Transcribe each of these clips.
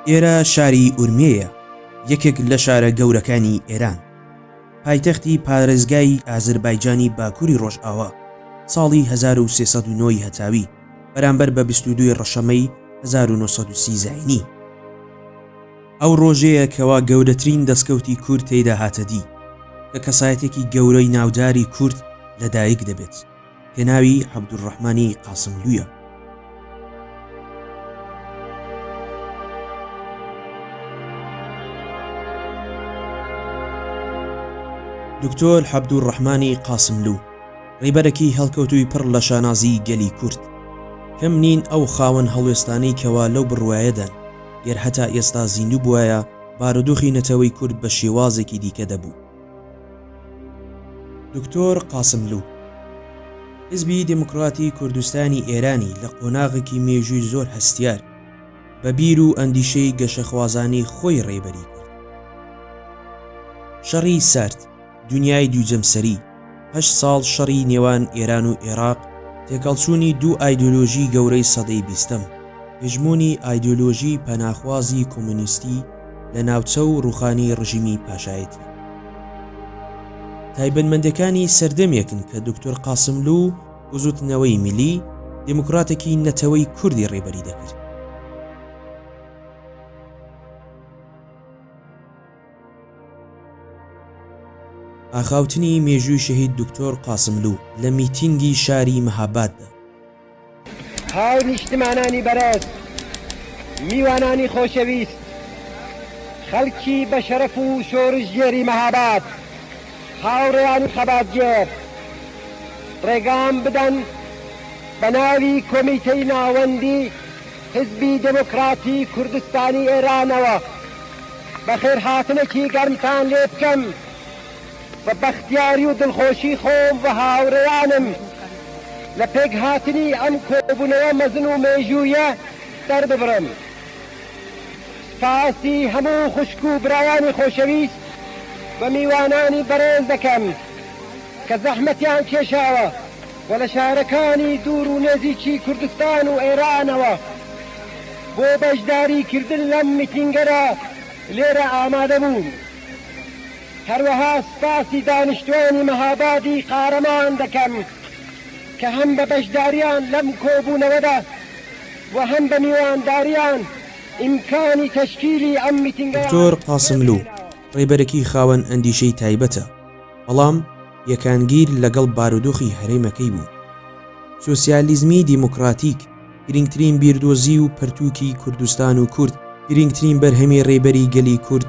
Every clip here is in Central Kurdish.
ئێرە شاری ئورمێیە، یەکێک لە شارە گەورەکانی ئێران. پایتەختی پارێزگای ئازربایجانی باکووری ڕۆژئاوا، ساڵی 1309 ی هەتاوی، بەرامبەر بە بیست و دوو ی ڕەشەمەی هەزار و نۆ سەد و سی زاینی. ئەو ڕۆژەیە کەوا گەورەترین دەستکەوتی کورد تێیدا هاتە دی، کە کەسایەتێکی گەورەی ناوداری کورد لە دایک دەبێت، پێناوی عەبدولڕەحمانی قاسملوویە. دکتۆر عەبدولڕەحمانی قاسملوو، ڕیبەرەکی هەڵکەوتووی پڕ لە شانازی گەلی کورد. کەم نین ئەو خاوەن هەڵوێستانەی کەوا لەو بڕوایەدان گەر هەتا ئێستا زیندوو بوایە بارودۆخی نەتەوەی کورد بە شێوازێکی دیکە دەبوو. دکتۆر قاسملوو، حیزبی دێموکڕاتی کوردستانی ئێرانی لە قۆناغێکی مێژووی زۆر هەستیار بە بیر و ئەندیشەی گەشەخوازانەی خۆی ڕێبەری کرد. شەڕی سارد. دونیای دوو جەمسەری، هەشت ساڵ شەڕی نێوان ئێران و ئێراق، تێکەڵچوونی دوو ئایدۆلۆژی گەورەی سەدەی بیستەم، هژموونی ئایدۆلۆژی پەناخوازی کۆمۆنیستی لە ناوچە و ڕووخانی ڕژیمی پاشایەتی. تایبەتمەندێکانی سەردەمێکن کە دوکتور قاسملوو بزووتنەوەی میلی دێموکڕاتێکی نەتەوەی کوردی ڕێبەری دەکرد. ئاخاوتنی مێژووی شەهید دکتۆر قاسملوو لە میتینگی شاری مەهاباددا. هاونیشتمانانی بەڕێز، میوانانی خۆشەویست، خەڵکی بەشەرەف و شۆڕشگێری مەهاباد، هاوڕێیانی خەباتگێر، ڕێگام بدەن بە ناوی کۆمیتەی ناوەندی، حیزبی دێمۆکڕاتی کوردستانی ئێرانەوە بەخێرهاتنێکی گەرمتان لێ بکەم بە بەختیاری و دڵخۆشی خۆم و هاوڕێیانم لە پێکهاتنی ئەم کۆبوونەوە مەزن و مێژوویە دەرببڕم. سپاسی هەموو خوشک و برایانی خۆشەویست و میوانانی بەڕێز دەکەم کە زەحمەتیان کێشاوە. و لە شارەکانی دوور و نێزیکی کوردستان و ئێرانەوە بۆ بەشداری کردن لەم میتینگەدا لێرە ئامادە بوون. هەروەها سپاسی دانیشتوانی مەهابادی قارەمان دەکەم کە هەم بە بەشداریان لەم کۆبوونەوەدا و هەم بە میوانداریان ئیمکانی تەشکیلی ئەم میتینگەیان دکتۆر قاسملوو ڕێبەرێکی خاوەن ئەندیشەی تایبەتە، بەڵام یەکانگیر لەگەڵ بارودۆخی هەرێمەکەی بوو. سۆسیالیزمی دیموکراتیک گرینگترین بیردۆزی و پەرتووکی کوردستان و کورد، گرینگترین بەرهەمی ڕێبەری گەلی کورد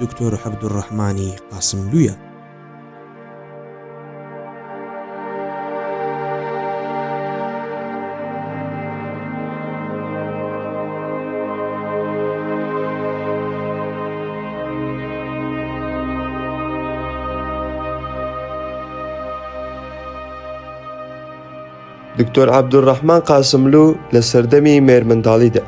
دوکتۆر عەبدولڕەحمانی قاسملوویە. دکتۆر عەبدوڕەحمان قاسملو لە سەردەمی مێرمنداڵیدا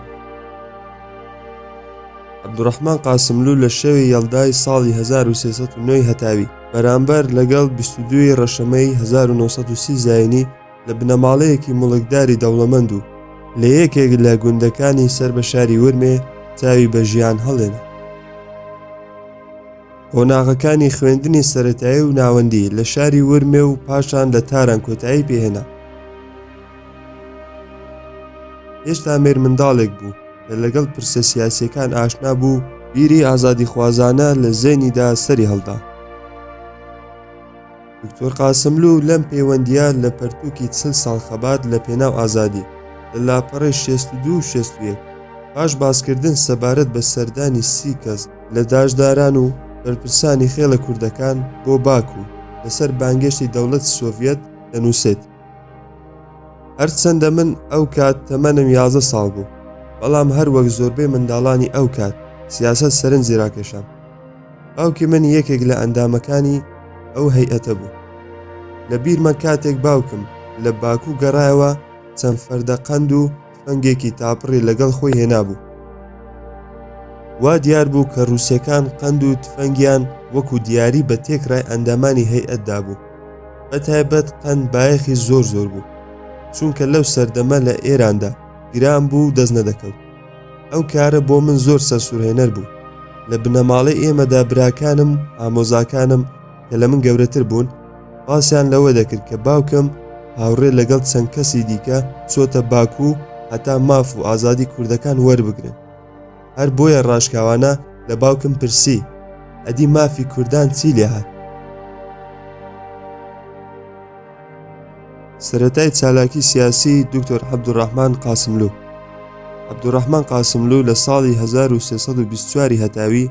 عەبدوڕەحمان قاسملو لە شەوی یەڵدای ساڵی 1970 هەتاوی بەرامبەر لەگەڵ 22 ی ڕەشەمەی 1930 زایینی لە بنەماڵەیەکی مڵکداری دەوڵەمەند و لە یەکێک لە گوندەکانی سەر بە شاری ورمێ چاوی بە ژیان هەڵێن قۆناغەکانی خوێندنی سەتایی و ناوەندی لە شاری ورمێ و پاشان لە تاران کۆتایی پێهێنا هێشتا مێرمنداڵێک بوو کە لەگەڵ پرسە سیاسیەکان ئاشنا بوو بیری ئازادی خوازانە لە زێنیدا سەری هەڵدا دکتۆر قاسملو لەم پەیوەندیە لە پەرتووکی چل ساڵ خەبات لە پێناو ئازادی لە لاپەڕی 62 شێستویەک پاش باسکردن سەبارەت بە سەردانی سی کەس لە داشداران و بەرپرسانی خێڵە کوردەکان بۆ باکو لەسەر بانگێشتی دەوڵەت سۆڤەت دەنووسێت هەرچەندە من ئەو کات تەمەنم یازە ساڵ بوو بەڵام هەر وەک زۆربەی منداڵانی ئەو کات سیاست سەرنجی راکێشام باوکی من یەکێک لە ئەندامەکانی ئەو هەیئەتە بوو لە بیرمە کاتێک باوکم لە باکو گەڕایەوە چەند فەردە قەند و تفەنگێکی تاپڕی لەگەڵ خۆی هێنابوو. وا دیار بوو کە رووسەکان قەند و تفەنگیان وەکو دیاری بە تێکرای ئەندامانی هەیئەت دابوو. بە تایبەت قەند بایەخی زۆر زۆر بوو. چونکە لەو سەردەمە لە ئێراندا گران بوو و دەست نەدەکەوت. ئەو کارە بۆ من زۆر سەرسورهێنەر بوو. لە بنەماڵەی ئێمەدا براکانم و ئامۆزاکانم، کە لە من گەورەتر بوون باسیان لەوە دەکرد کە باوکم هاوڕێ لەگەڵ چەند کەسی دیکە چۆتە باکو و هەتا ماف و ئازادی کوردەکان وەربگرن هەر بۆیە ڕاشکاوانە لە باوکم پرسی ئەدی مافی کوردان چی لێ هات سەتای چالاکی سیاسی دکتۆر عبدوڕحمان قاسملو عبدوڕحمان قاسملو لە ساڵی 1920 هەتاوی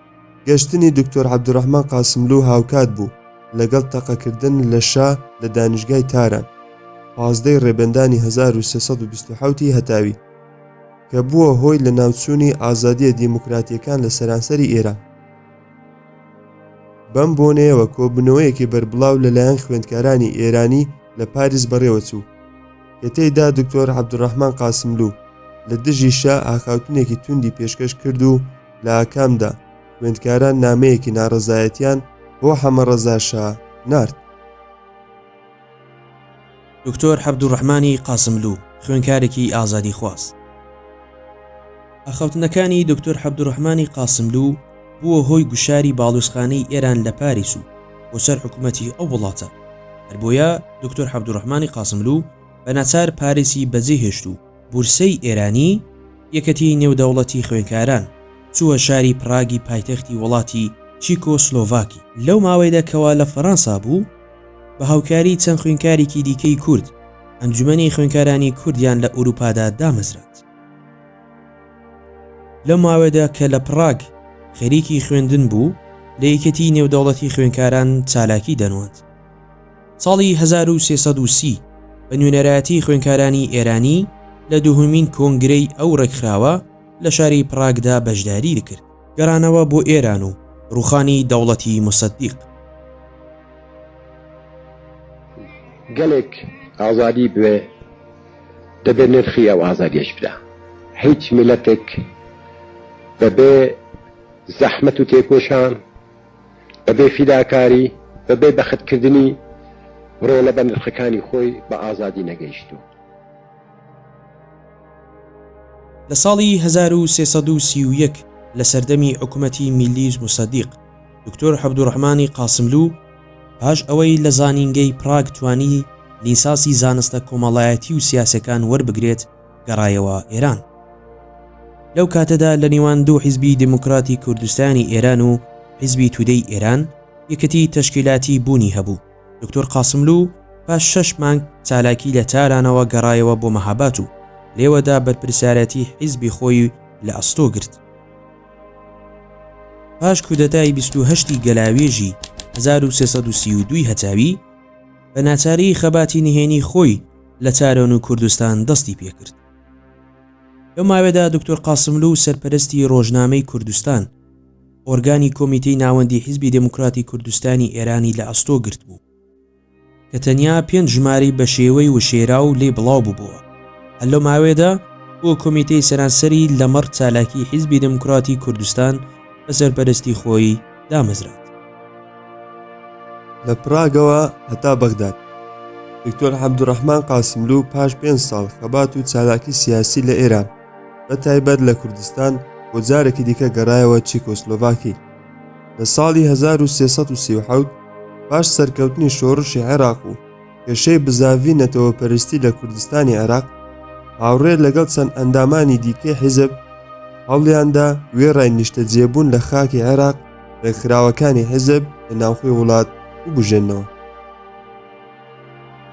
گەشتنی دکتۆر عەبدولڕەحمان قاسملوو هاوکات بوو لەگەڵ تەقەکردن لە شا لە دانیشگای تاران، پازدە ی ڕێبەندانی هەزار و سێ سەد و بیست و حەوت ی هەتاوی، کە بووە هۆی لەناوچوونی ئازادییە دیموکراتییەکان لە سەرانسەری ئێران. بەم بۆنەیەوە کۆبوونەوەیەکی بەربڵاو لەلایەن خوێندکارانی ئێرانی لە پاریس بەڕێوە چوو، کە تێیدا دکتۆر عەبدولڕەحمان قاسملوو لە دژی شا ئاخاوتنێکی توندی پێشکەش کرد و، لە ئاکامدا خوێندکاران نامەیەکی ناڕەزایەتیان بۆ حەمە ڕەزاشا نارد. دکتۆر حەبدوڕەحمانی قاسملوو، خوێنکارێکی ئازادیخواز. ئاخاوتنەکانی دکتۆر حەبدوڕەحمانی قاسملوو بووە هۆی گوشاری باڵوێزخانەی ئێران لە پاریس و بۆ سەر حکوومەتی ئەو وڵاتە، هەربۆیە دکتۆر حەبدوڕەحمانی قاسملوو بەناچار پاریسی بەجێهێشت و، بورسەی ئێرانی، یەکەتیی نێودەوڵەتی خوێندکاران، چووە شاری پڕاگی پایتەختی وڵاتی چیکۆسلۆڤاکی. لەو ماوەیدا کەوا لە فەرەنسا بوو، بە هاوکاریی چەند خوێندکارێکی دیکەی کورد، ئەنجومەنی خوێندکارانی کوردیان لە ئورووپادا دامەزراند. لەو ماوەیدا کە لە پڕاگ خەریکی خوێندن بوو، لە یەکێتیی نێودەوڵەتی خوێندکاران چالاکی دەنواند. ساڵی هەزار و سێ سەد و سی بە نوێنەرایەتی خوێنکارانی ئێرانی لە دوهمین کۆنگرەی ئەو ڕێکخراوە لە شاری پڕاگدا بەشداری دکرد. گەڕانەوە بۆ ئێران و ڕووخانی دەوڵەتی موسەدیق. گەلێک ئازادی بوێ دەبێ نرخی ئەو ئازادیەش بدا هیچ میلەتێک بەبێ زەحمەت و تێکۆشان، بە بێ فیداکاری، بە بێ بەخت کردنی ڕۆڵە بە نرخەکانی خۆی بە ئازادی نەگەیشتووە. لە ساڵی هەزار و سێ سەد و سی و یەک لە سەردەمی حکومەتی میلیس موسەدیق، دکتۆر عەبدوڕەحمانی قاسملوو پاش ئەوەی لە زانینگەی پراگ توانی لیساسی زانستە کۆمەڵایەتی و سیاسەکان وەربگرێت، گەڕایەوە ئێران. لەو کاتەدا لە نیوان دوو حیزبی دێموکڕاتی کوردستانی ئێران و حیزبی تودەی ئێران، یەکێتی تەشکیلاتی بوونی هەبوو. دوکتور قاسملوو پاش شەش مانگ چالاکی لە تارانەوە گەڕایەوە بۆ مەهاباد و لێوەدا بەرپرسیارەتی حیزبی خۆی لە ئەستۆ گرت. پاش کودەتای بیست و هەشت ی گەلاوێژی هەزار و سێ سەد و سی و دوو ی هەتاوی، بە ناچاری خەباتی نهێنی خۆی، لە چارەنوو و کوردستان دەستی پێکرد. لەو ماوەیەدا دکتۆر قاسملوو و سەرپەرستی ڕۆژنامەی کوردستان، ئۆرگانی کۆمیتەی ناوەندی حیزبی دێموکراتی کوردستانی ئێرانی لە ئەستۆ گرتبوو، کە تەنیا پێنج ژمارەی بە شێوەی وشێراو لێی بڵاو بووبووە. هەر لەو ماوەیەدا بووە کۆمیتەی سەرانسەری لەمەڕ چالاکیی حیزبی دێموکراتی کوردستان بە سەرپەرستی خۆی، دامەزراند. لە پراگەوە هەتا بەغداد. دکتۆر عەبدولڕەحمان قاسملوو پاش پێنج ساڵ خەبات و چالاکی سیاسی لە ئێران، بە تایبەت لە کوردستان، بۆ جارێکی دیکە گەڕایەوە چیکۆسلۆڤاکی. لە ساڵی هەزار و سێ سەد و سی و حەوت پاش سەرکەوتنی شۆڕشی عێراق و، کێشەی بزاڤی نەتەوەپەرستی لە کوردستانی عێراق، هاوڕێ لەگەڵ چەند ئەندامانی دیکەی حیزب هەوڵیاندا وێڕای نیشتەجێبوون لە خاکی عێراق ڕێکخراوەکانی حیزب لە ناوخۆی وڵات ببوژێنەوە.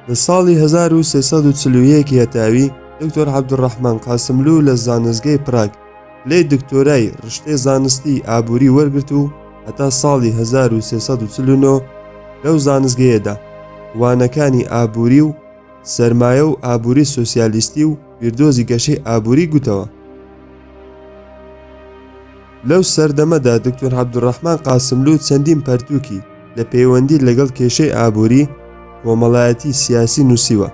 لە ساڵی 1341 یەتاوی، دکتۆر عەبدولڕەحمان قاسملوو لە زانستگەی پراگ، لێی دکتۆرای رشتەی زانستی ئابووری وەرگرت و هەتا ساڵی هەزار و سێ سەد و چل و نۆ لەو زانستگەیەدا وانەکانی ئابووری و سەرمایە و ئابووری سۆسیالیستی و بیردۆزی گەشەی ئابووری گوتەوە. لەو سەردەمەدا دکتۆر عەبدوڕەحمان قاسملوو چەندین پەرتووکی لە پەیوەندی لەگەڵ کێشەی ئابووری کۆمەڵایەتی سیاسی نووسیوە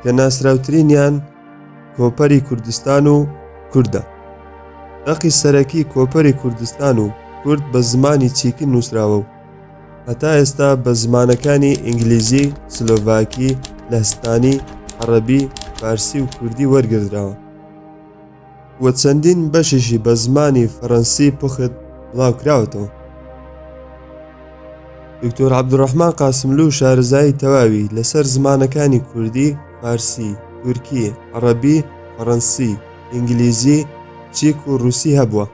کە ناسراوترینیان کۆپەری کوردستان و کوردە. دەقی سەرەکی کۆپەری کوردستان و کورد بە زمانی چیکی نووسراوە و هەتا ئێستا بە زمانەکانی ئینگلیزی، سلۆڤاکی، لەهستانی، عەڕەبی، فارسی و کوردی وەرگردراوە. و چەندین بەشیشی بە زمانی فەرەنسی پوخت بڵاوکراوەتەوە. دکتۆر عبدڕحمان قاسملو و شارزایی تەواوی لەسەر زمانەکانی کوردی، فارسی، تورکی، عڕەبی، فەڕەنسی، ئینگلیزی، چیک و رووسی هەبووە.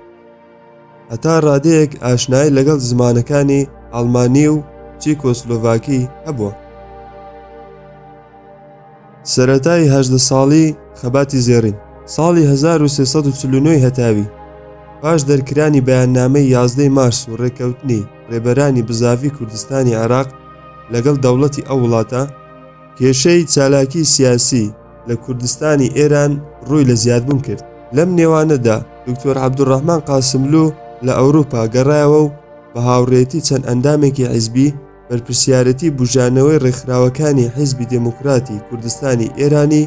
هەتا ڕادەیەک ئاشنای لەگەڵ زمانەکانی ئەڵمانی و چیکۆسلۆڤاکی هەبووە. سەرەتای هەژدە ساڵی خەباتی زێڕین ساڵی 1340 هەتاوی پاش دەرکرانی بەیاننامەی یازدەی مارس و ڕێکەوتنی ڕێبەرانی بزاڤی کوردستانی عێراق لەگەڵ دەوڵەتی ئەو وڵاتە کێشەی چالاکی سیاسی لە کوردستانی ئێران ڕووی لە زیادبوون کرد، لەم نێوانەدا دوکتۆر عەبدولڕەحمان قاسملوو لە ئەوروپا گەڕایەوە و بە هاوڕێیەتی چەند ئەندامێکی حیزبی، بەرپرسیارێتی بووژانەوەی ڕێکخراوەکانی حیزبی دێموکراتی کوردستانی ئێرانی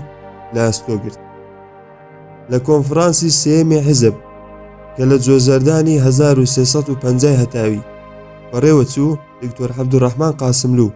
لە ئەستۆ گرت. لە کۆنفرانسی سێیەمی حیزب کە لە جۆزەردانی هەزار و سێ سەد و پەنجا ی هەتاوی بەڕێوە چوو، دوکتۆر عەبدولڕەحمان قاسملوو،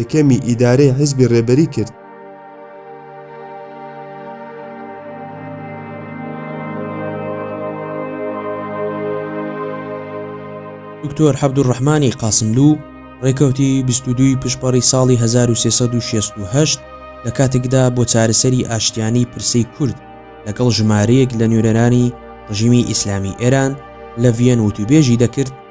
یەکەمی ئیدارەی حیزبی ڕێبەری کرد. دکتۆر حەبدولڕەحمانی قاسملوو ڕێکەوتی بیست و دووی پشپەڕی ساڵی هەزار و سێ سەد و شێست و هەشت لە کاتێکدا بۆ چارەسەری ئاشتییانەی پرسەی کورد لەگەڵ ژمارەیەک لە نوێنەرانی ڕژیمی ئیسلامیی ئێران لە ڤییەن وتووێژی دەکرد،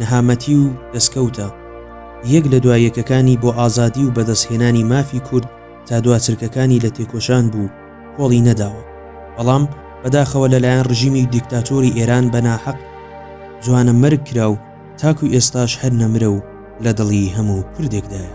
نەهامەتی و دەستکەوتە یەک لە دوا یەکەکانی بۆ ئازادی و بەدەستهێنانی مافی کورد تا دوا چرکەکانی لە تێکۆشان بوو کۆڵی نەداوە بەڵام بەداخەوە لەلایەن ڕژیمی دیکتاتۆری ئێران بە ناحەق جوانە مەرگ کرا و تاکو ئێستاش هەر نەمرە و لە دڵی هەموو کوردێکدایە.